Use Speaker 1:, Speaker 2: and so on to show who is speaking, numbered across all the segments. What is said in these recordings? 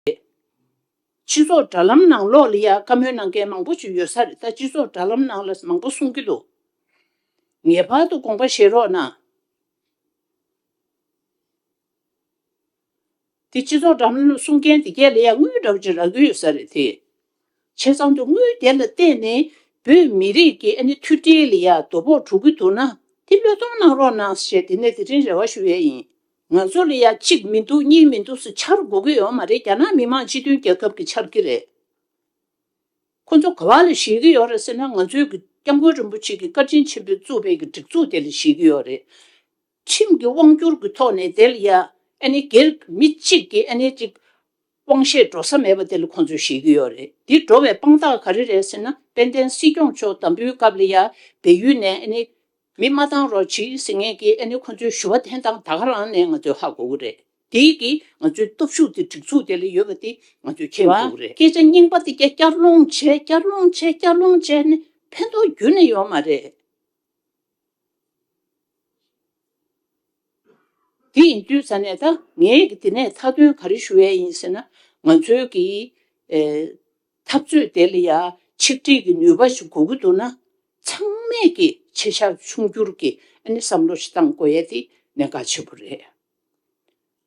Speaker 1: རེད། སྤྱི་ཚོགས་དྲྭ་ལམ་ནང་གློག་ལི་ཡ་བཀའ་མོལ་གནང་མཁན་མང་པོ་བྱུས་ཡོད་ས་རེད་ད་སྤྱི་ཚོགས་དྲྭ་ལམ་ནང་ལ་མང་པོ་གསུང་གི་འདུག་ངེས་པར་དུ་དགོངས་པ་བཞེས་རོགས་གནང། དེ་སྤྱི་ཚོགས་དྲྭ་ལམ་ནང་གསུང་མཁན་དེ་གས་ལི་ཡ་དངུལ་དྲྭ་བརྒྱུད་རག་གི་ཡོད་ས་རེད་དེ་བྱས་ཙང་དུ་དངུལ་དེ་ལ་བརྟེན་ནས་བོད་མི་རིགས་ཀྱི་ཨ་ནེ་མཐུ་སྒྲིལ་ལི་ཡ་དོ་ཕོག་དྲུག་གི་འདུག་ན་དེ་བློས་གཏོང་གནང་རོགས་གནང་ཞེས་དེ་ནས་དེ་རིང་རེ་བ་ཞུ་ཡས་ཡིན། ང་ཚོ་ལ་ཡ་གཅིག་མི་འདུག་གཉིས་མི་འདུག་སུ་ཆར་འགོ་གི་ཡོད་མ་རེད་རྒྱ་ནག་མི་དམངས་སྤྱི་མཐུན་རྒྱལ་ཁབ་ཀྱི་ཆར་གི་རེད། ཁོ་ཚོ་ག་བ་ལ་བཞེས་གི་ཡོད་རེད་ཟེར་ན་ང་ཚོའི་གི་སྐྱབས་མགོན་རིན་པོ་ཆེ་གི་བཀའ་དྲིན་ཆེན་པོས་བཙུགས་པའི་གི་སྒྲིག་འཛུགས་དེ་ལ་བཞེས་གི་ཡོད་རེད། ཁྲིམས་གི་དབང་བསྒྱུར་གི་ཐོག་ནས་དེ་ལ་ཡ་ཨ་ནི་སྒེར་མི་གཅིག་གི་ཨ་ནི་ཅིག་དབང་བཞེས་འགྲོ་ས་མེད་པ་དེ་ལ་ཁོང་ཚོས་བཞེས་ཀྱི་ཡོད་རེད་འདི་འགྲོ་བའི་དཔང་རྟགས་ག་རེ་རེད་ཟེར་ན་དཔལ་ལྡན་སྲིད་སྐྱོང་མཆོག་དམ་འབུལ་སྐབས་ལ་ཡར་བལ་ཡུལ་ནས་ཨ་ནི། མི་མ་བཏང་རོགས་གྱིས་ཟེར་ངེས་ཀྱི་ཨ་ནི་ཁོང་ཚོའི་ཞུ་བ་འཐེན་སྟངས་ད་ག་རང་ནས་ང་ཚོས་ཧ་གོ་གི་རེད་དེ་གིས་ང་ཚོའི་སྟོབས་ཤུགས་དེ་སྒྲིག་འཛུགས་དེ་ལ་ཡོད་པ་དེ་ང་ཚོས་མཁྱེན་དགོས་གི་རེད། སྐད་ཆ་རྙིང་པ་དེ་བསྐྱར་བསྐྱར་སློང་བྱས་བསྐྱར་སློང་བྱས་བསྐྱར་སློང་བྱས་ནས་ཕན་ཐོགས་རྒྱུན་ནས་ཡོད་མ་རེད། དེ་ཡིན་དུས་ས་གནས་ད་ངས་འདི་ནས་མཐའ་དོན་ག་རེ་ཞུ་འི་ཡིན་ཟེར་ན། ང་ཚོའི་གི། འཐབ་རྩོད་དེ་ལ་ཡང་ཆིག་སྒྲིལ་གི་ནུས་པ་ཞིག་དགོས་ཀྱི་འདུག་ན། ཚང་མས་ཀྱི་ཆེ་ཤག་ཆུང་འགྱུར་གྱི་ཨ་ནི་བསམ་བློ་ཞིག་བཏང་དགོས་ཡ་དེ་ནས་དགའ་ཆེ་པོ་རེད།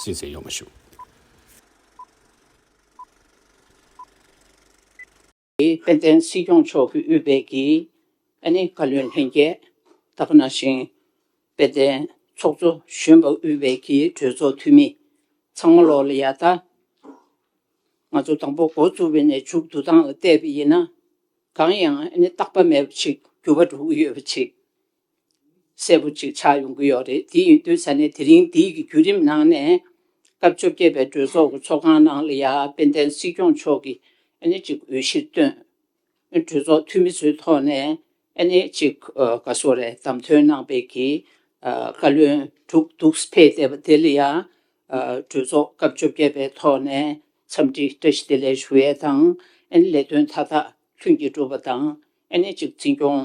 Speaker 2: སུས་ཟེར་ཡོང་མི་ཤུགས།
Speaker 1: དཔལ་ལྡན་སྲིད་སྐྱོང་མཆོག་གི་དབུས་བེད་ཀྱི་ཨ་ནེ་བཀའ་བློན་ལྷན་རྒྱས་ད་ཁ་ན་ཞིང་དཔལ་ལྡན་ཚོགས་གཙོ་གཞོན་པ་དབུས་བེད་ཀྱི་གྲོས་ཚོགས་འཐུས་མི་ཚང་མ་ལོག་ལ་ཡ་ད། ང་ཚོ་དང་པོ་འགོ་བཙུགས་པའི་ནས་མཇུག་བསྡུ་སྟངས་ལ་བལྟས་པ་ཡིན་ན། གང་ཡང་ཨ་ནེ་རྟག་པ་མེད་པ་ཞིག་འགྱུར་བ་འགྲོ་གི་ཡོད་པ་ཆེ། གསལ་པོ་ཅིག་ཆགས་ཡོང་གི་ཡོད་རེད་དེ་ཡིན་དུས་ས་གནས་དེ་རིང་འདིའི་གི་བརྒྱུད་རིམ་ནང་ནས། སྐབས་བཅོ་བརྒྱད་པའི་གྲོས་ཚོགས་ཀྱི་ཚོགས་ཁང་ནང་ལ་ཡ་དཔལ་ལྡན་སྲིད་སྐྱོང་མཆོག་གིས་ཨ་ནི་ཅིག་འོས་གཞིར་བཏོན། གྲོས་ཚོགས་འཐུས་མི་ཚོའི་ཐོག་ནས་ཨ་ནི་ཅིག་ག་སོ་རེ་བདམས་ཐོན་གནང་སྤེལ་གྱི་བཀའ་བློན་དྲུག་འདུག་སྤེལ་བསྡད་པ་དེ་ལ་ཡ། གྲོས་ཚོགས་སྐབས་བཅོ་བརྒྱད་པའི་ཐོག་ནས་འཚམས་འདྲི་བཀྲ་ཤིས་བདེ་ལེགས་ཞུ་ཡས་དང། ཨ་ནི་ལས་དོན་མཐའ་དག་ལྷུན་གྱིས་འགྲུབ་པ་དང་ཨ་ནི་ཅིག་འཛིན་སྐྱོང་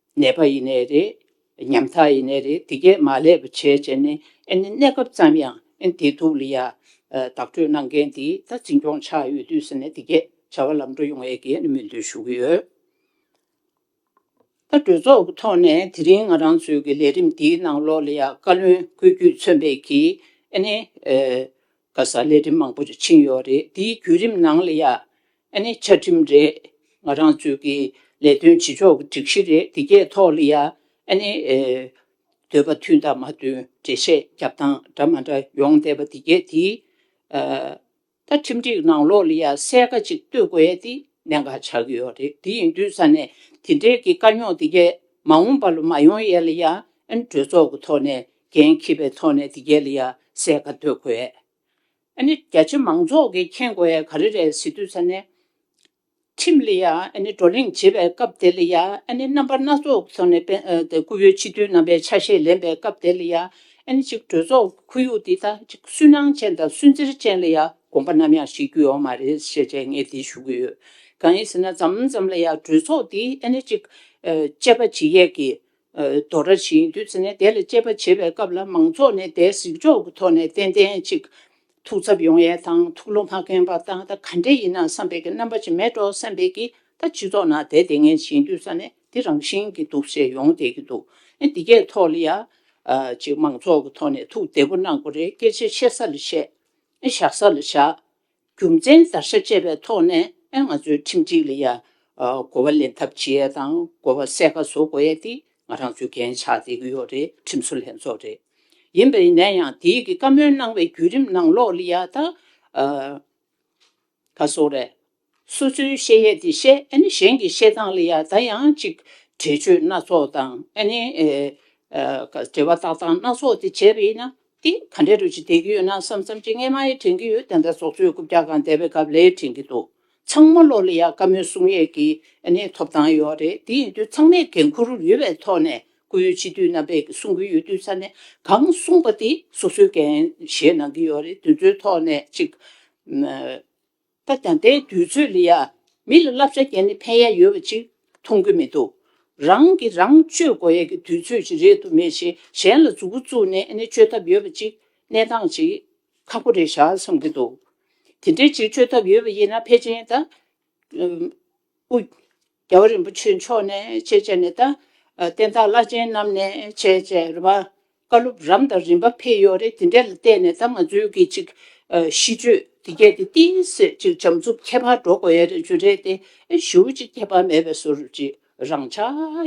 Speaker 1: ནད་པ་ཡིན་ནའི་རེད། ཉམ་ཐག་ཡིན་ནའི་རེད་དེ་སྐད་མ་ལས་པ་བྱས་བྱས་ནས་གནས་སྐབས་ཙམ་ཡང་བདེ་སྡུག་ལ་ཡང་བདག་སྤྲོད་གནང་མཁན་འདི་ད་འཛིན་སྐྱོང་ཆགས་ཡོད་དུས་ཟེར་ནས་དེ་སྐད་བྱ་བ་ལམ་འགྲོ་ཡོང་ཡས་ཀྱི་སྨོན་འདུན་ཞུ་གི་ཡོད། ད་གྲོས་ཚོགས་ཀྱི་ཐོག་ནས་དེ་རིང་ང་རང་ཚོའི་ཀྱི་ལས་རིམ་འདིའི་ནང་ལོགས་ལ་ཡང་བཀའ་བློན་བཀོད་རྒྱུད་མཚོན་པའི་ཀྱི་ཨ་ནི། ག་ས་ལས་རིམ་མང་པོ་ཞིག་ཕྱིན་ཡོད་རེད་དེའི་བརྒྱུད་རིམ་ནང་ལ་ཡང་ཨ་ནི་བཅའ་ཁྲིམས་རེད། ང་རང་ཚོའི་གི་ལས་དོན་བྱེད་ཕྱོགས་ཀྱི་སྒྲིག་གཞི་རེད་དེ་གའི་ཐོག་ལ་ཡང་ཨ་ནི། འདོད་པ་མཐུན་དང་མ་མཐུན་འགྲེལ་བཤད་རྒྱབ་སྟངས་འདྲ་མ་འདྲ་ཡོང་བསྡད་པ་དེ་གས་དེའི། ད་ཁྲིམས་སྒྲིག་ནང་ལོགས་ལ་ཡང་གསལ་ཁ་ཅིག་གཏོད་དགོས་ཡ་དེ་གནད་འགག་ཆགས་ཀྱི་ཡོད་རེད་དེ་ཡིན་དུས་ས་ནས་དེ་འབྲེལ་གྱི་དཀའ་རྙོག་དེ་གས་མ་འོངས་པ་ལ་མ་ཡོང་ཡས་ལ་ཡང་ཨ་ནི་གྲོས་ཚོགས་ཀྱི་ཐོག་ནས་འགན་འཁྱིས་པའི་ཐོག་ནས་དེ་གའི་ལ་ཡ་སའི་ག་སྡོད་གོ་ཡས་ཨ་ནི་རྒྱ་ཆེ་མང་ཚོགས་ཀྱིས་མཁྱེན་གོ་ཡས་ག་རེ་རེད་ཟེར་དུས་ས་གནས་ཁྲིམས་ལ་ཡ་ཨ་ནི་བགྲོ་གླེང་བྱེད་པའི་སྐབས་དེ་ལ་ཡ་ཨ་ནི་རྣམ་པ་སྣ་ཚོགས་ཀྱི་ཐོག་ནས་དཔེ་སྐུ་ཡོད་སྤྱི་འཐུས་རྣམ་པའི་ཆ་ཤས་ལེན་པའི་སྐབས་དེ་ལ་ཡ་ཨ་ནི་གཅིག་གྲོས་ཚོགས་ཀྱི་ཁོར་ཡུག་འདི་ད་གཅིག་སུན་སྣང་ཅན་དང་སུན་གཙེར་ཅན་ལ་ཡ་དགོངས་པ་ནམ་ཡང་བཞེས་རྒྱུ་ཡོང་མ་རེད་ཞེས་བྱས་ངས་འདི་ཞུ་གི་ཡོད་གང་ཡིན་ཟེར་ན་འཛམ་ཛམ་ལ་ཡ་གྲོས་ཚོགས་འདི་ཨ་ནི་གཅིག་དཔྱད་པ་ཇི་ཡས་ཀྱིས་རྡོ་ར་བྱིན་བདུད་རྩི་ནས་དེ་ལ་སྤྱད་པ་བྱེད་པའི་སྐབས་ལ་མང་ཚོགས་ནས་དེ་གཟིགས་ཕྱོགས་ཀྱི་ཐོག་ནས་ཏན་ཏན་ཅིག་ཐུགས་འཚབ་ཡོང་ཡས་དང་ཐུགས་བློ་མ་ཁེངས་པ་དང་ད་ག་འདྲེ་ཡིན་ན་བསམ་པའི་གི་རྣམ་པ་ཅིག་མེད་འགྲོ་བསམ་པའི་གི་ད་སྤྱི་ཚོགས་ནང་དེ་དེ་ངན་བྱིན་བདུད་ས་ནས་དེ་རང་བཞིན་གི་འདུག་ཞེས་ཡོང་བསྡད་ཀྱི་འདུག་ཨེ་འདི་གས་ཐོག་ལ་ཡང་ཅིག་མང་ཚོགས་ཀྱི་ཐོག་ནས་ཐུགས་བདེ་པོ་གནང་དགོས་རེད་སྐད་ཆ་བཤད་ས་ལ་བཤད་ཨེ་བཞག་ས་ལ་བཞག་རྒྱུ་མཚན་བརྡར་ཤ་བཅད་པའི་ཐོག་ནས་ཨེ་ང་ཚོའི་ཁྲིམས་སྒྲིག་ལ་ཡང་གོ་བ་ལེན་ཐབས་བྱེད་ཡས་དང་གོ་བ་གསལ་ཁ་བཟོ་དགོས་ཡས་དེ་ང་རང་ཚོའི་འགན་ཆགས་བསྡད་ཀྱི་ཡོད་རེད་ཁྲིམས་བཟོ་ལྷན་ཚོགས་རེད། ཡིན་པས་ནས་ཡང་དེའི་གི་བཀའ་མོལ་གནང་བའི་བརྒྱུད་རིམ་ནང་ལོགས་ལི་ཡ་ད་ག་སོ་རེད། སོ་སོའི་བཤད་ཡས་དེ་བཤད་ཨེ་ནི་གཞན་གི་བཤད་སྟངས་ལི་ཡ་ད་ཡང་ཅིག་འགྲེལ་བརྗོད་སྣ་ཚོགས་དང་ཨེ་ནི་འགྲེལ་བ་བཏགས་སྟངས་སྣ་ཚོགས་དེ་བྱས་པས་ན་དེ་ག་འདྲའི་རུ་ཅི་བསྡད་ཀྱི་ཡོད་ན་བསམ་བསམ་ཅི་ངས་མ་ཡི་དྲན་གྱི་ཡོད་དེ་འདྲ་ཟོག་ཆོས་རྐུབ་རྒྱག་གང་བསྡད་པའི་སྐབས་ལས་དྲན་གྱི་འདུག་ཚང་མ་ལོག་ལེ་ཡག་དཀའ་མོའི་གསུང་ཡས་ཀྱི་ནས་ཐོབ་ཐང་ཡོད་རེད་དེ་ཡིན་དུས་ཚང་མས་འགན་འཁུར་ཡོད་པའི་ཐོག་ནས་སྐུ་ཡོད་ཕྱི་དུས་རྣམ་པས་གསུང་གི་ཡོད་དུས་ས་ནས་གང་གསུངས་པ་དེ་སོ་སོའི་འགན་བཞེས་གནང་གི་ཡོད་རེད་དེ་ཚོའི་ཐོག་ནས་ཅིག། སྟབས་དང་དེ་དུས་ཚོད་ལ་ཡང་མི་ལ་བསླབ་བྱ་བསྐྱལ་ནས་ཕན་ཡ་ཡོད་པ་ཅིག་མཐོང་གི་མི་འདུག་རང་གིས་རང་སྤྱོད་དགོས་ཡ་གི་དུས་ཚོད་ཅིག་རེད་དུ་མས་ཞེས་གཞན་ལ་རྫུ་གུ་བཙུགས་ནས་ཨ་ནི་སྤྱོད་ཐབས་ཡོད་པ་ཅིག་གནས་སྟངས་ཅིག་ཁག་པོ་རེད་བཞག་བསམ་གི་འདུག་དེ་འདྲའི་ཅིག་སྤྱོད་ཐབས་ཡོད་པ་ཡིན་ན་ཕལ་ཆེན་ད། རྒྱལ་བ་རིན་པོ་ཆེ་མཆོག་ནས་ཅེས་བྱ་ནས་ད། བསྟན་བདག་བླ་ཆེན་རྣམས་ནས་ཅེས་བྱ་ར། བཀའ་སློབ་རམ་དང་རིམ་པ་ཕེ་ཡོ་རེ་དེ་འདྲས་ལ་བལྟས་ནས་ད་ང་ཚོའི་གི་ཅིག། ཤིས་བརྗོད་དེ་རྒྱས་ཏེ་ཏི་སེ་ཅིག་བྱམས་མཛུབ་ཁྱད་པར་འགྲོ་དགོས་ཡ་རེ་བརྗོད་འདྲས་ཏེ་ཨེ་ཞུ་ཅིག་ཁྱད་པར་མེད་པའི་སོར་ཅིག་རང་ཆ་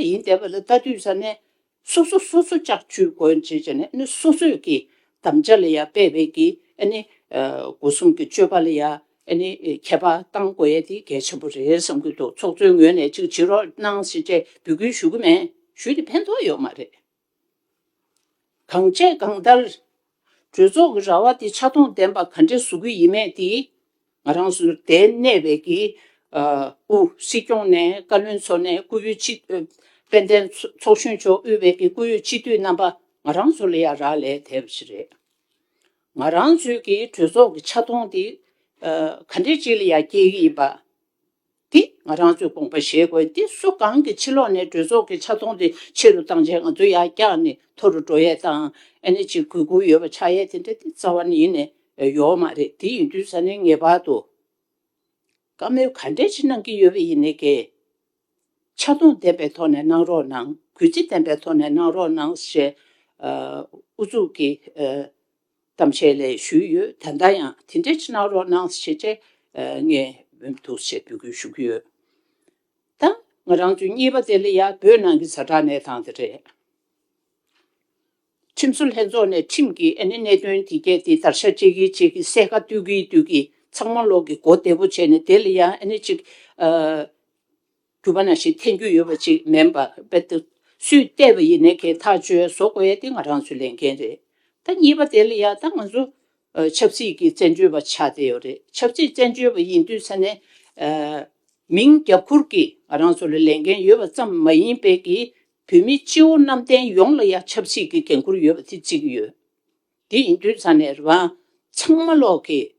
Speaker 1: ཡིན་བསྡད་པ་ལ་ད་དུས་ས་ནས་སོ་སོ་སོ་སོ་ཅག་ཆུའི་སྒོའི་འབྱེད་བྱེད་ནི་ནི་སོ་སོས་ཀྱི་དམ་བཅའ་ལ་ཡང་སྤེལ་བས་ཀྱི་ཨ་ནི། སྒོ་གསུམ་གྱི་སྤྱོད་པ་ལ་ཡང་ཨ་ནི་ཁྱད་པར་གཏང་དགོས་ཡས་དེ་གལ་ཆེན་པོ་རེད་བསམ་གྱི་འདུག་ཚོགས་གཙོའི་ངོས་ནས་ཅིག་བྱེད་རོགས་གནང་ཞེས་ཅེས་འབོད་སྐུལ་ཞུ་གི་མེད་ཞུས་ཏེ་ཕན་ཐོགས་ཡོད་མ་རེད། གང་བྱས་གང་ལྟར་གྲོས་ཚོགས་ཀྱི་ར་བ་དེ་ཆ་མཐོང་ལྡན་པ་ག་འདྲས་བཟོ་གི་ཡིན་མེད་དེ། ང་རང་སུ་དེ་གནས་བའི་གི། ཨུ། སྲིད་སྐྱོང་ནས་བཀའ་བློན་ཚོ་ནས་བཀུར་འོས་སྤྱི། དཔལ་ལྡན་ཚོགས་གཞོན་མཆོག་དབུས་བའི་གི་བཀུར་འོས་སྤྱི་འཐུས་རྣམ་པ་ང་རང་ཚོ་ལ་ཡ་རག་ལས་དལ་བ་ཞིག་རེད། ང་རང་ཚོའི་གི་གྲོས་ཚོགས་ཀྱི་ཆ་མཐོང་དེ། ག་འདྲས་ཅིག་ལ་ཡ་སྐྱེལ་གི་ཡིན་པ། འདི་ང་རང་ཚོའི་དགོངས་པ་བཞེས་དགོས་འདི་སུ་གང་གི་ཕྱི་ལོག་ནས་གྲོས་ཚོགས་ཀྱི་ཆ་མཐོང་དེ་ཆེ་རུ་བཏང་རྗེས་ང་ཚོའི་ཡག་རྐྱང་ནི་མཐོ་རུ་འགྲོ་ཡས་དང་ཨེ་ནས་ཅིག་གུས་བཀུར་ཡོད་པ་ཆགས་ཡས་དེ་འདྲ་དེ་རྩ་བ་ནས་ཡིན་ནས་ཡོའོ་མ་རེད་དེ་ཡིན་དུས་ས་ནས་ངེས་པར་དུ་བཀའ་མོལ་ག་འདྲས་ཆེ་གནང་གི་ཡོད་པ་ཡིན་ནས་ཀྱི། ཆ་མཐོང་ལྡན་པའི་ཐོག་ནས་གནང་རོགས་གནང་གུས་བརྩི་ལྡན་པའི་ཐོག་ནས་གནང་རོགས་གནང་ཞེས་ཨུ་ཚུགས་ཀྱིས་གཏམ་འཆལ་ལས་ཞུས་ཡོད་ད་ལྟ་ཡང་དེ་འདྲའི་ཕྱི་ནང་རོགས་གནང་ཞེས་ཆེ་ངས་འབུམ་ཐུགས་ཆེ་འབོད་སྐུལ་ཞུ་གི་ཡོད། ད་ང་རང་ཚོའི་གཉིས་པ་དེ་ལ་ཡ་བོད་ནང་གི་ཟ་འདྲ་གནས་སྟངས་དེ་རེད། ཁྲིམས་བཟོ་ལྷན་ཚོགས་ནས་ཁྲིམས་ཀྱིས་ཨ་ནི་གནད་དོན་དེ་སྐད་དེ་ལྟར་ཤ་གཅད་ཀི་གཅད་ཀི་གསལ་ཁ་བཏུལ་གི་བཏུལ་གི་ཚང་མ་ལོག་གི་གོ་བདེ་པོ་བྱས་ནས་དེ་ལ་ཡང་ཨ་ནི་གཅིག། གྱུར་པ་ན་ཞིག་འཐེན་རྒྱུ་ཡོད་པ་ཅིག་མིན་པ་དཔེ་ད། སུས་བལྟས་པ་ཡིན་ནའི་ཁའི་ཐག་གཅོད་བཟོ་དགོས་ཡ་དེ་ང་རང་ཚོའི་ལས་འགན་རེད། ད་གཉིས་པ་དེ་ལ་ཡ་ད་ང་ཚོ་ཆབ་སྲིད་ཀྱི་བཙན་བྱོལ་བ་ཆགས་བསྡད་ཡོད་རེད་ཆབ་སྲིད་བཙན་བྱོལ་བ་ཡིན་དུས་ས་ནས། མིང་རྒྱབ་ཁུར་གྱིས་ང་རང་ཚོ་ལ་ལས་འགན་ཡོད་པ་ཙམ་མ་ཡིན་པའི་གི་བོད་མི་སྤྱི་བོ་གནམ་བསྟན་ཡོངས་ལ་ཡ་ཆབ་སྲིད་ཀྱི་འགན་ཁུར་ཡོད་པ་དེ་གཅིག་ཡོད། དེ་ཡིན་དུས་ས་ནས་རང་ཚང་མ་ལོག་གིས།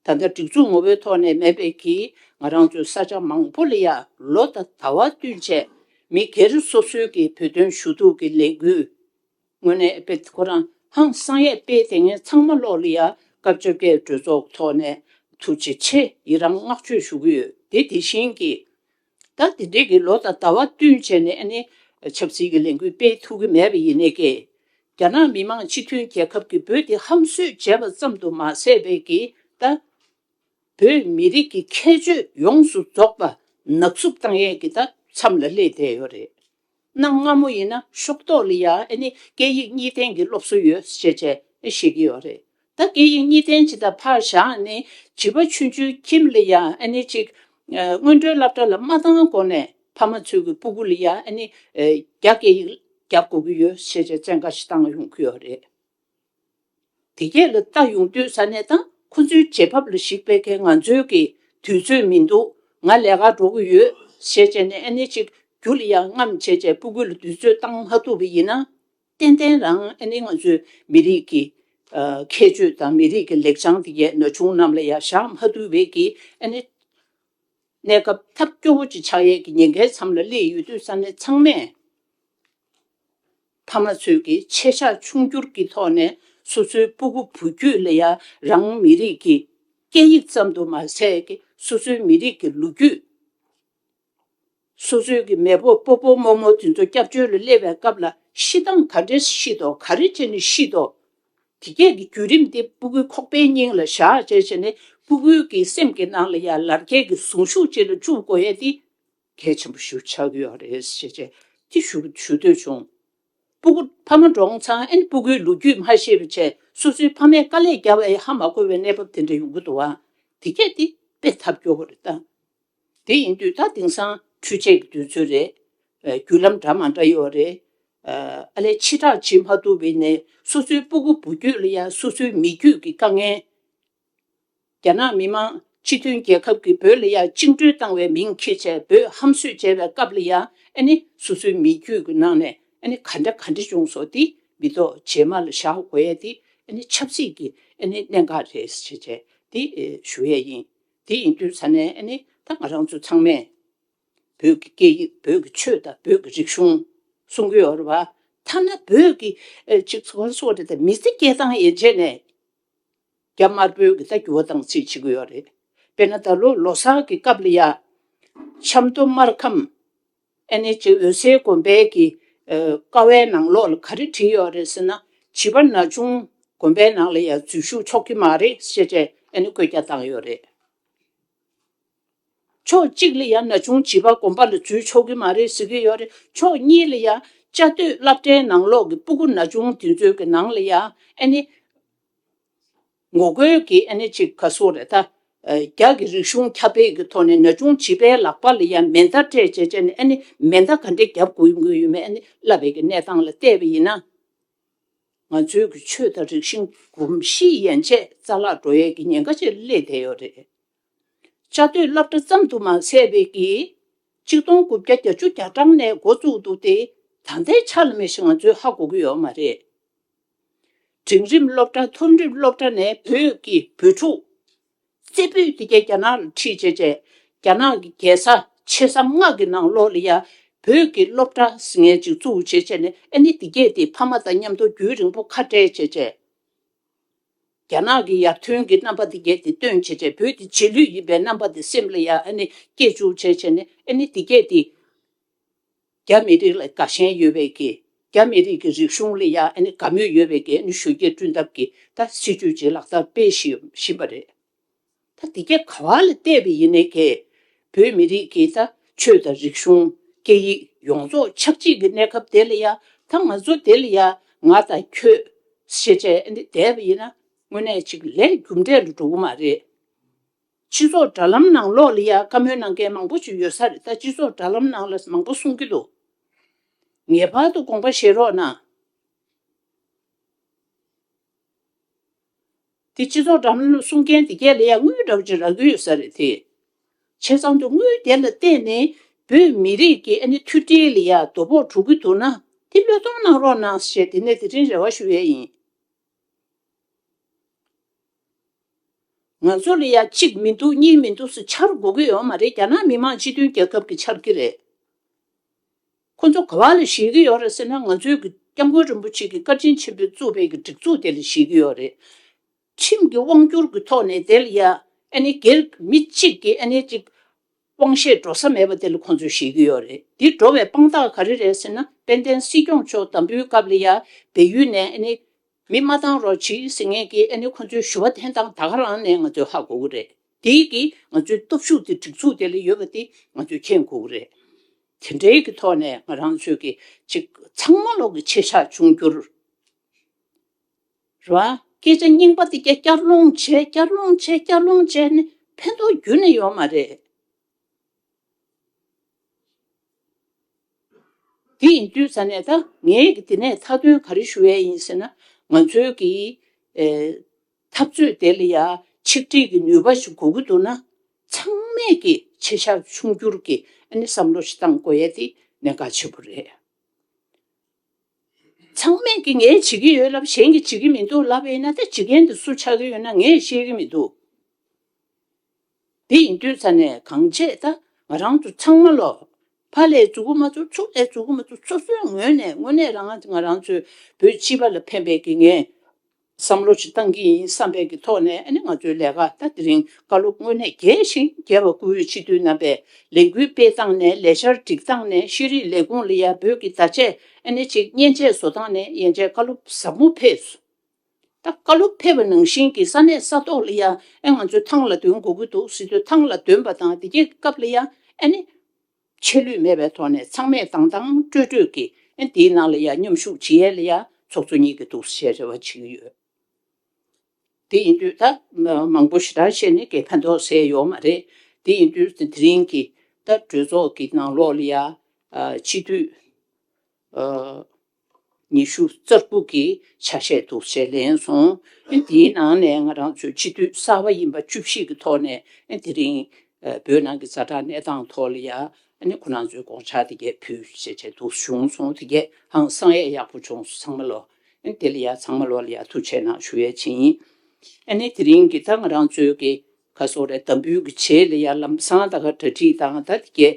Speaker 1: ད་ལྟ་སྒྲིག་འཛུགས་ངོ་བོའི་ཐོག་ནས་མེད་པས་ཀྱིས་ང་རང་ཚོའི་ས་ཆ་མང་པོ་ལ་ཡར་ལོ་དང་ད་བར་བསྟུན་ཆེད་མི་སྒེར་སོ་སོའི་ཀྱི་བོད་དོན་ཞུ་གཏུག་གི་ལས་འགུལ་ངོས་ནས་སྤེལ་ཏེ་ཁོ་རང་ཧང་སང་ཡས་སྤེལ་དེ་ངས་ཚང་མ་ཀློག་ལ་ཡར་སྐབས་བཅོ་བརྒྱད་གྲོས་ཚོགས་ཐོག་ནས་ཐུགས་རྗེ་ཆེ་ཡི་རང་བསྔགས་བརྗོད་ཞུ་གི་ཡོད་དེ་དེ་བཞིན་གྱི། ད་དེ་འབྲེལ་གྱི་ལོ་དང་ཟླ་བ་བསྟུན་བྱས་ནས་ནི། ཆབ་སྲིད་ཀྱི་ལས་འགུལ་སྤེལ་ཐུབ་ཀྱི་མེད་པ་ཡིན་ནི་ཀི། རྒྱ་ནག་མི་མང་སྤྱི་མཐུན་རྒྱལ་ཁབ་ཀྱི་བོད་དེ་ཧམ་གསོད་བྱས་པ་ཙམ་དུ་མ་ཟད་པའི་ཀི། ད། བོད་མི་རིགས་ཀྱི་ཁྱད་ཆོས་ཡོངས་སུ་རྫོགས་པ་ནག་བསུབ་བཏང་ཡས་ཀྱི་ད་མཚམས་ལ་སླེབས་བསྡད་ཡོད་རེད། གནའ་སྔ་མོ་ཡིན་ན་ཤོག་ཐོག་ལ་ཡང་ནི་སྐད་ཡིག་གཉིས་ལྡན་གྱི་སློབ་གསོ་ཡོད་ཅེས་བྱས་ཤེས་ཀྱི་ཡོད་རེད་ད་སྐད་ཡིག་གཉིས་ལྡན་སྤྱི་དང་ཕར་བཞག་ནི་བྱིས་པ་ཆུང་ཆུང་ཁྱིམ་ལ་ཡང་ནི་ཅིག། སྔོན་འགྲོའི་བསླབ་གྲྭ་ལ་མ་བཏང་གོང་ནས་ཕ་མ་ཚོས་ཀྱི་སྤུ་གུ་ལ་ཡང་ནི་རྒྱ་སྐད་ཡིག་རྒྱག་དགོས་ཀྱི་ཡོད་ཅེས་བཙན་བཀའ་ཞིག་བཏང་ཡོང་གི་ཡོད་རེད། དེ་སྐད་ལ་བལྟ་ཡོང་དུས་ས་གནས་དང་ཁོ་ཚོའི་བྱེད་བབ་ལ་གཞིགས་པའི་ཁའི་ང་ཚོའི་གི་དུས་ཚོད་མི་འདུག་ང་ལས་ཀར་འགྲོ་གི་ཡོད། ཞེས་བྱས་ནས་ཨ་ནེ་གཅིག་གྱུར་ལ་ཡང་རྔམ་བྱས་བྱས་སྤུ་གུ་ལ་དུས་ཚོད་བཏང་མ་ཐུབ་པ་ཡིན་ན། ཏན་ཏན་རང་ཨ་ནེ་ང་ཚོའི་མི་རིགས་ཀྱི་ཁྱད་ཆོས་དང་མི་རིགས་ཀྱི་ལེགས་བྱང་དེ་གས་ན་ཆུང་རྣམས་ལ་ཡང་བཞག་མ་ཐུབ་བས་གི་ཨ་ནེ། གནས་སྐབས་ཐབས་སྐྱོ་བོ་ཅིག་ཆགས་ཡས་ཀྱི་ཉེན་ཁའི་མཚམས་ལ་སླེབས་ཡོད་དུས་ས་གནས་ཚང་མས། ཕ་མ་ཚོས་ཀྱི་ཆེ་ཆག་ཆུང་འགྱུར་གྱི་ཐོག་ནས་སོ་སོའི་སྤུ་གུ་བུ་རྒྱུད་ལ་ཡང་རང་མི་རིགས་ཀྱི་སྐད་ཡིག་ཙམ་དུ་མ་ཟད་ཀྱི་སོ་སོའི་མི་རིགས་ཀྱི་ལོ་རྒྱུས། སོ་སོའི་ཀྱི་མེས་པོ་སྤོ་སྤོ་རྨོ་རྨོ་དེ་ཚོ་སྐྱབས་བཅོལ་ལ་སླེབས་པའི་སྐབས་ལ་ཤི་སྟངས་ག་འདྲས་ཤི་དོ་ག་རེ་བྱས་ནས་ཤི་དོ། དེ་སྐད་ཀྱི་བརྒྱུད་རིམ་དེ་སྤུ་གུའི་ཁོག་པའི་སྙིང་ལ་བཞག་བྱས་བྱས་ནས་སྤུ་གུའི་ཀྱི་སེམས་ཀྱི་ནང་ལ་ཡང་ལར་སྐད་ཀྱི་གཟུངས་གཞུག་ཅིག་ལ་བཅུག་དགོས་ཡས་ཏེ། གལ་ཆེན་པོ་ཞུ་ཆགས་ཀྱི་ཡོད་རེད་ཞེས་བཅས་ཀྱི་ཞུ་ཞུ་འདོད་བྱུང། སྤུ་གུ་ཕ་མ་འབྲོང་ཚང་ཨན་སྤུ་གུའི་ལོ་རྒྱུས་མ་ཤེས་པའི་ཆེད་སོ་སོའི་ཕ་མས་དཀའ་ལས་བརྒྱབ་ཨེ་ཧ་མ་གོ་བའི་གནས་བབ་དེ་འདྲ་ཡོང་གི་འདུག་བ་དེ་གལ་ཏེ་དཔེ་ཐབས་སྐྱོ་བོ་རེད་ད། དེ་ཡིན་དུས་ད་དེང་སང་འཕྲུལ་ཆས་ཀྱི་དུས་ཚོད་རེད། བརྒྱུད་ལམ་འདྲ་མང་འདྲ་ཡོད་རེད། ཨ་ལས་ཕྱི་དྲག་བྱེད་མ་ཐུབ་བས་ནས་སོ་སོའི་སྤུ་གུ་བུ་རྒྱུད་ལ་ཡང་སོ་སོའི་མི་རྒྱུད་ཀྱི་དཀའ་ངལ། རྒྱ་ནག་མི་དམངས་སྤྱི་མཐུན་རྒྱལ་ཁབ་ཀྱིས་བོད་ལ་ཡ་བཅིངས་གྲོལ་བཏང་བའི་མིང་ཁྱེར་བྱས་བོད་ཧམ་གསོད་བྱས་པའི་སྐབས་ལ་ཡ་ནི་སོ་སོའི་མི་རྒྱུད་ཀྱི་ནང་ནས་ཡ་ནི་ག་འདྲ་ག་འདྲ་བྱུང་སོང་དེ་མི་ཐོག་རྗེས་མ་ལ་བཞག་དགོས་ཡ་དེ་ཡ་ནི་ཆབ་སྲིད་ཀྱི་ཡ་ནི་གནད་འགག་རེད་ཟེར་བྱས་དེ་ཞུ་ཡ་ཡིན་དེ་ཡིན་དུས་ས་ནས་ཡ་ནི་ད་ང་རང་ཚོ་ཚང་མས་བོད་ཀྱི་སྐད་ཡིག་བོད་ཀྱི་ཆོས་དང་བོད་ཀྱི་རིག་གཞུང་སྲུང་གི་ཡོད་རེད་བ་ཐ་ན་བོད་ཀྱི་གཅིག་ཚོགས་གཉིས་གསོག་རེད་དེ་མི་ཚེ་སྐྱེལ་སྟངས་ཡན་ཆད་ནས། རྒྱ་དམར་པོའི་གི་ད་འགྱུར་བ་དང་ཚིག་བྱེད་ཀྱི་ཡོད་རེད་དཔེར་ན་ད་ལོ་ལོ་སར་གི་སྐབས་ལ་ཡ། ཆབ་མདོ་སྨར་ཁམས། NH འོད་ཟེར་དགོན་པའི་གི། ཀ་བའི་ནང་ལོགས་ལ་ག་རེ་བྲིས་ཡོད་རེད་ཟེར་ན། བྱིས་པ་ན་ཆུང་དགོན་པའི་ནང་ལ་ཡ་འཛུལ་བཞུགས་ཆོག་གི་མ་རེད་ཤེས་ཏེ་ཨེ་ནི་བཀོད་རྒྱ་བཏང་ཡོད་རེད། ཕྱོགས་གཅིག་ལ་ཡ་ན་ཆུང་བྱིས་པ་དགོན་པ་ལ་འཛུལ་ཆོག་གི་མ་རེད་ཟེར་གྱི་ཡོད་རེད་ཕྱོགས་གཉིས་ལ་ཡ། བཅའ་སྡོད་བླ་བྲེའི་ནང་ལོགས་གི་སྤུ་གུ་ན་ཆུང་དེ་ཚོའི་གི་ནང་ལ་ཡ་ཨེ་ནི། ངོ་རྒོལ་གྱི་ཨ་ནེ་གཅིག་ག་སུ་རེ་ད། རྒྱ་གི་རིག་གཞུང་ཁྱབ་སྤེལ་གྱི་ཐོག་ནས་ན་ཆུང་བྱིས་པའི་ལག་པ་ལ་ཡང་མེ་མདའ་སྤྲད་བྱས་བྱས་ནས་ཨ་ནེ་མེ་མདའ་ག་འདྲས་བརྒྱབ་དགོས་ཡོད་མེད་ཨ་ནེ་བསླབ་པའི་གི་གནས་སྟངས་ལ་བལྟས་པ་ཡིན་ན། ང་ཚོའི་གི་ཆོས་དང་རིག་གཞིང་གོམས་གཤིས་ཡན་ཆད་རྩ་བརླག་འགྲོ་ཡས་གི་ཉེན་ཁ་ཆེར་སླེབས་བསྡད་ཡོད་རེད། བཅའ་སྡོད་བསླབ་གྲྭ་ཙམ་དུ་མ་ཟད་པའི་གི། གཅིག་སྟོང་དགུ་བརྒྱ་གྱ་བཅུ་གྱ་གྲངས་ནས་འགོ་བཙུགས་འདུག་སྟེ། ད་ལྟའི་ཆ་ལ་མེ་ཤི་ང་ཚོའི་ཧ་གོ་གི་ཡོད་མ་རེད། འབྲིང་རིམ་སློབ་གྲྭ་མཐོ་རིམ་སློབ་གྲྭ་ནས་བོད་ཀྱི་བོད་ཕྲུག། རྩེ་ཕུད་དེ་ག་རྒྱ་ནག་ལ་ཁྲིད་བྱས་རྗེས་རྒྱ་ནག་གི་རྒྱལ་ས་ཆེ་ས་མངགས་ཀྱི་ནང་ལོགས་ལ་ཡང་བོད་ཀྱི་སློབ་གྲྭ་ཟིང་ངེ་ཅིག་བཙུགས་བྱས་རྗེས་ནས་ཨ་ནི་དེ་གས་དེ་ཕ་མ་དང་མཉམ་དུ་རྒྱུན་རིང་པོ་ཁ་བྲལ་བྱས་རྗེས། རྒྱ་ནག་གི་ཡར་ཐོན་གྱི་རྣམ་པ་དེ་གས་དེ་སྟོན་བྱས་རྗེས་བོད་དེ་རྗེས་ལུས་ཡིན་པའི་རྣམ་པ་དེ་སེམས་ལ་ཡང་ཨ་ནི་སྐྱེས་བཅུག་བྱས་རྗེས་ནས་ཨ་ནི་དེ་གས་དེ། རྒྱ་མི་རིགས་ལ་དགའ་ཞེན་ཡོད་པའི་ཀྱི་རྒྱ་མི་རིགས་ཀྱི་རིག་གཞུང་ལ་ཡང་དགའ་མོས་ཡོད་པའི་ཀྱི་ཞུ་རྒྱས་བསྐྲུན་ཐབས་ཀྱི་ད་སྲིད་ཇུས་ཅིག་ལག་བསྟར་སྤེལ་བཞིན་པ་རེད། ད་དེ་ཀྱི་ག་བ་ལ་བལྟས་པ་ཡིན་ནའི་ཀྱི་བོད་མི་རིགས་ཀྱི་ད་ཆོས་དང་རིག་གཞུང་སྐད་ཡིག་ཡོངས་རྫོགས་ཆགས་འཇིག་གི་གནས་སྐབས་དེ་ལ་ཡང་ད་ང་ཚོ་དེ་ལ་ཡང་ང་དང་ཁྱོད་ཤེས་བྱས་བསྡད་པ་ཡིན་ན་དངོས་གནས་ཅིག་ལས་རྒྱུ་འབྲས་ལ་འགྲོ་གི་མ་རེད། སྤྱི་ཚོགས་དྲ་ལམ་ནང་ལོག་ལི་ཡ་བཀའ་མོལ་གནང་མཁན་མང་པོ་ཞིག་ཡོད་ས་རེད་ད་སྤྱི་ཚོགས་དྲ་ལམ་ནང་ལ་མང་པོ་གསུང་གི་འདུག་ངེས་པར་དུ་དགོངས་པ་བཞེས་རོགས་གནང། དེ་སྤྱི་ཚོགས་དྲ་ལམ་གསུང་མཁན་དེ་རྒྱ་ལི་ཡ་དངུལ་དྲག་ཅིག་རག་གི་ཡོད་ས་རེད་དེ། བྱས་ཙང་དུ་དངུལ་དེ་ལ་བརྟེན་ནས་བོད་མི་རིགས་ཀྱི་ཨ་ནེ་མཐུ་སྒྲིལ་ལི་ཡ་དོ་ཕོག་དྲུག་གི་འདུག་ན་དེ་བློས་གཏོང་གནང་རོགས་གནང་ཞེས་དེ་ནས་དེ་རིང་རེ་བ་ཞུ་ཡས་ཡིན། ང་ཚོ་ལ་ཡ་གཅིག་མི་འདུག་གཉིས་མི་འདུག་སུ་འཆར་འགོ་གི་ཡོད་མ་རེད་རྒྱ་ནག་མི་དམངས་སྤྱི་མཐུན་རྒྱལ་ཁབ་ཀྱི་འཆར་གི་རེད། ཁོ་ཚོ་ག་བ་ལ་བཞེས་ཀྱི་ཡོད་རེད་ཟེར་ན་ང་ཚོའི་གི་སྐྱབས་མགོན་རིན་པོ་ཆེ་གི་བཀའ་དྲིན་ཆེན་པོས་བཙུགས་པའི་གི་སྒྲིག་འཛུགས་དེ་ལ་བཞེས་ཀྱི་ཡོད་རེད། ཁྲིམས་ཀྱི་དབང་བསྒྱུར་གི་ཐོག་ནས་དེ་ལ་ཡ་ཨ་ནི་སྒེར་མི་གཅིག་གི་ཨ་ནི་རིགས་དབང་བཞེས་འགྲོ་ས་མེད་པ་དེ་ལ་ཁོང་ཚོས་བཞེས་ཀྱི་ཡོད་རེད་འདི་འགྲོ་བའི་དཔང་རྟགས་ག་རེ་རེད་ཟེར་ན་དཔལ་ལྡན་སྲིད་སྐྱོང་མཆོག་དམ་འབུལ་སྐབས་ལ་ཡང་བལ་ཡུལ་ནས་ཨ་ནི། མི་མ་བཏང་རོགས་གྱིས་ཟེར་ངེས་ཀྱི་ཨ་ནི་ཁོང་ཚོའི་ཞུ་བ་འཐེན་སྟངས་ད་ག་རང་ནས་ང་ཚོས་ཧ་གོ་གི་རེད་དེ་ཡིག་གིས་ང་ཚོའི་སྟོབས་ཤུགས་དེ་སྒྲིག་འཛུགས་དེ་ལ་ཡོད་པ་དེ་ང་ཚོས་མཁྱེན་དགོས་ཀྱི་རེད་དེ་འདྲའི་གི་ཐོག་ནས་ང་རང་ཚོས་གི་ཅིག་ཚང་མ་ལོག་གི་ཆེ་ཆགས་འབྱུང་རྒྱུར། ར། སྐད་ཆ་རྙིང་པ་འདི་སྐྱ་སྐྱར་སློང་བྱས་སྐྱར་སློང་བྱས་སྐྱར་སློང་བྱས་ནི་ཕན་ཐོགས་རྒྱུན་ནས་ཡོད་མ་རེད། དེ་ཡིན་དུས་ས་གནས་ད་ངས་ཀྱི་འདི་ནས་མཐའ་དོན་ག་རེ་ཞུ་ཡས་ཡིན་ཟེར་ན་ང་ཚོའི་ཀྱི་འཐབ་རྩོད་དེ་ལ་ཡ་ཆིག་སྒྲིག་གི་ནུས་པ་ཞིག་དགོས་ཀྱི་འདུག་ན་ཚང་མས་ཀྱི་ཆེ་ཞག་ཆུང་འགྱུར་གྱི་ཨ་ནི་བསམ་བློ་ཞིག་བཏང་དགོས་ཡས་དེ་ནས་དགའ་ཆེ་པོ་རེད། ཚང་མས་ཀྱིས་ངས་བྱེད་ཀྱི་ཡོད་ལབ་གཞན་གྱིས་བྱེད་ཀྱི་མི་འདུག་ལབ་དབྱེ་ན་ད་ཇི་སྐད་དུ་སུ་ཆགས་ཀྱི་ཡོད་ན་ངས་ཤེས་ཀྱི་མི་འདུག་དེ་ཡིན་དུས་ཚ་ནས་གང་བྱས་ད་ང་རང་ཚོ་ཚང་མ་ལོ་ཕ་ལས་རྫུ་གུ་མ་ཚོ་ཚུར་ལས་རྫུ་གུ་མ་ཚོ་སོ་སོའི་ངོས་ནས་དངོས་གནས་རང་ང་རང་ཚོའི་བོད་སྤྱི་པ་ལ་ཕན་པའི་ཀྱི་ངས་བསམ་བློ་ཅི་གཏང་གི་ཡིན་བསམ་པའི་གི་ཐོག་ནས་ཨ་ནི་ང་ཚོའི་ལས་ཀ་ད་དེ་རིང་བཀའ་སློབ་དངོས་གནས་རྒྱས་ཤིང་རྒྱས་པ་བཀུར་འོས་སྤྱི་འཐུས་རྣམ་པས་ལས་འགུལ་སྤེལ་སྟངས་ནས་ལས་འཆར་སྒྲིག་སྟངས་ནས་ཤེས་རིག་ལས་ཁུངས་ལ་ཡར་འབོད་ཀྱི་བརྡ་ཆད་ཨ་ནི་ཅིག་མཉེན་ཆས་བཟོ་སྟངས་ནས་ཡན་ཆད་བཀའ་སློབ་ཟབ་མོ་ཕེབས་སོ། ད་བཀའ་སློབ་ཕེབས་པ་ནང་བཞིན་གྱི་ས་གནས་ས་ཐོག་ལ་ཡ་ཨ་ང་ཚོའི་ཐང་ལ་འདོན་དགོས་ཀྱི་འདུག་སྲིད་དོན་ཐང་ལ་འདོན་པ་དང་དེ་རྒྱས་སྐབས་ལ་ཡ་ཨ་ནི། ཆད་ལུས་མེད་པའི་ཐོག་ནས་ཚང་མས་དང་དང་སྤྲོས་སྤྲོས་ཀྱིས་འདིའི་ནང་ལ་ཡ་མཉམ་ཞུགས་བྱེད་ཡས་ལ་ཡ་ཚོགས་ཚོགས་གཉིས་ཀྱི་འདུག་ཞེས་རེ་བ་བྱེད་ཀྱི་ཡོད། དེ་ཡིན་དུས་ད་མང་པོ་ཞེ་དྲག་བཤད་ནས་དགེ་ཕན་ཐོགས་ཟེར་ཡོད་མ་རེད། དེ་ཡིན་དུས་དེ་རིང་གི་ད་གྲོས་ཚོགས་ཀྱི་ནང་ལོགས་ལ་ཡ། སྤྱི་འཐུས། ཉི་ཤུ་རྩ་དགུ་གི་ཆ་ཤས་འདུག་ཅེས་ལན་སོང། དེའི་ནང་ནས་ང་རང་ཚོའི་སྤྱི་འཐུས་གསར་བ་ཡིན་པ་བཅུ་བཞི་གི་ཐོག་ནས་དེ་རིང་བོད་ནང་གི་རྩ་དྲག་གནས་སྟངས་ཐོག་ལ་ཡང་ཁོ་རང་ཚོའི་དགོངས་འཆར་དེ་གས་ཕུལ་ཞེས་བྱས་འདུག་བྱུང་སོང་དེ་གས་ཧང་སང་ཡས་ཡག་པོ་བྱུང་སོང་ཚང་མ་ལོ། དེ་ལ་ཡང་ཚང་མ་ལོ་ལ་ཡང་ཐུགས་ཆེ་གནང་ཞུ་ཡས་བྱིན། དེ་རིང་གི་ད་ང་རང་ཚོའི་གི་ཁ་སོ་རས་དམ་འབུལ་གི་ཆེད་ལ་ཡང་ལམ་སང་ད་ག་གྲ་སྒྲིག་དང་ད་དེ་གས་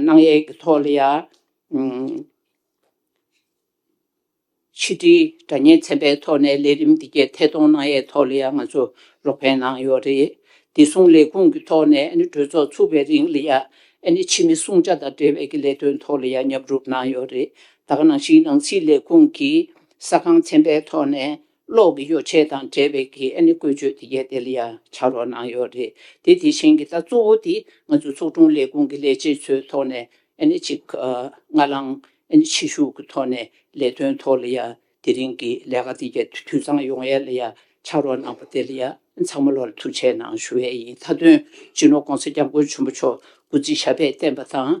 Speaker 1: གནང་ཡས་གི་ཐོག་ལ་ཡང། ཕྱི་དྲིལ་དྲ་གཉེར་ཚན་པའི་ཐོག་ནས་ལས་རིམ་འདི་གའི་ཐད་གཏོང་གནང་ཡས་ཐོག་ལ་ཡང་ང་ཚོ་རོགས་ཕན་གནང་ཡོད་རེད། བདེ་སྲུང་ལས་ཁུངས་ཀྱི་ཐོག་ནས་གྲོས་ཚོགས་ཚུགས་པའི་རིང་ལ་ཡང་ཕྱི་མི་སྲུང་བྱ་དང་འབྲེལ་བའི་ཀྱི་ལས་དོན་ཐོག་ལ་ཡང་མཉམ་རུབ་གནང་ཡོད་རེད། ད་ག་ནང་བཞིན་ནང་སྲིད་ལས་ཁུངས་ཀྱིས་ས་ཁང་ཚན་པའི་ཐོག་ནས་གློག་གི་ཡོ་བྱད་དང་འབྲེལ་བའི་གི་ཨ་ནི་བཀོལ་སྤྱོད་དེ་ཡས་དེ་ལ་ཡང་བྱ་རོགས་གནང་ཡོད་རེད་དེ་དེ་བཞིན་གྱི་ད་གཙོ་བོ་དེ་ང་ཚོའི་ཚོགས་དྲུང་ལས་ཁུངས་ཀྱི་ལས་བྱེད་ཚོའི་ཐོག་ནས་ཨ་ནི་གཅིག་སྔ་ལངས་ཨ་ནི་ཕྱི་བཞུགས་ཀྱི་ཐོག་ནས་ལས་དོན་ཐོག་ལ་ཡང་དེ་རིང་གི་ལས་ཀ་དེ་ཡས་འཐུས་ཚང་ཡོང་ཡས་ལ་ཡང་བྱ་རོགས་གནང་པ་དེ་ལ་ཡང་ཚང་མ་ལོ་ལ་ཐུགས་ཆེ་གནང་ཞུ་ཡས་ཡིན་མཐའ་དོན་སྤྱི་ནོར ྋགོང་ས ྋསྐྱབས་མགོན་ཆེན་པོ་མཆོག་སྐུ་ཚེ་ཞབས་པད་བརྟན་པ་དང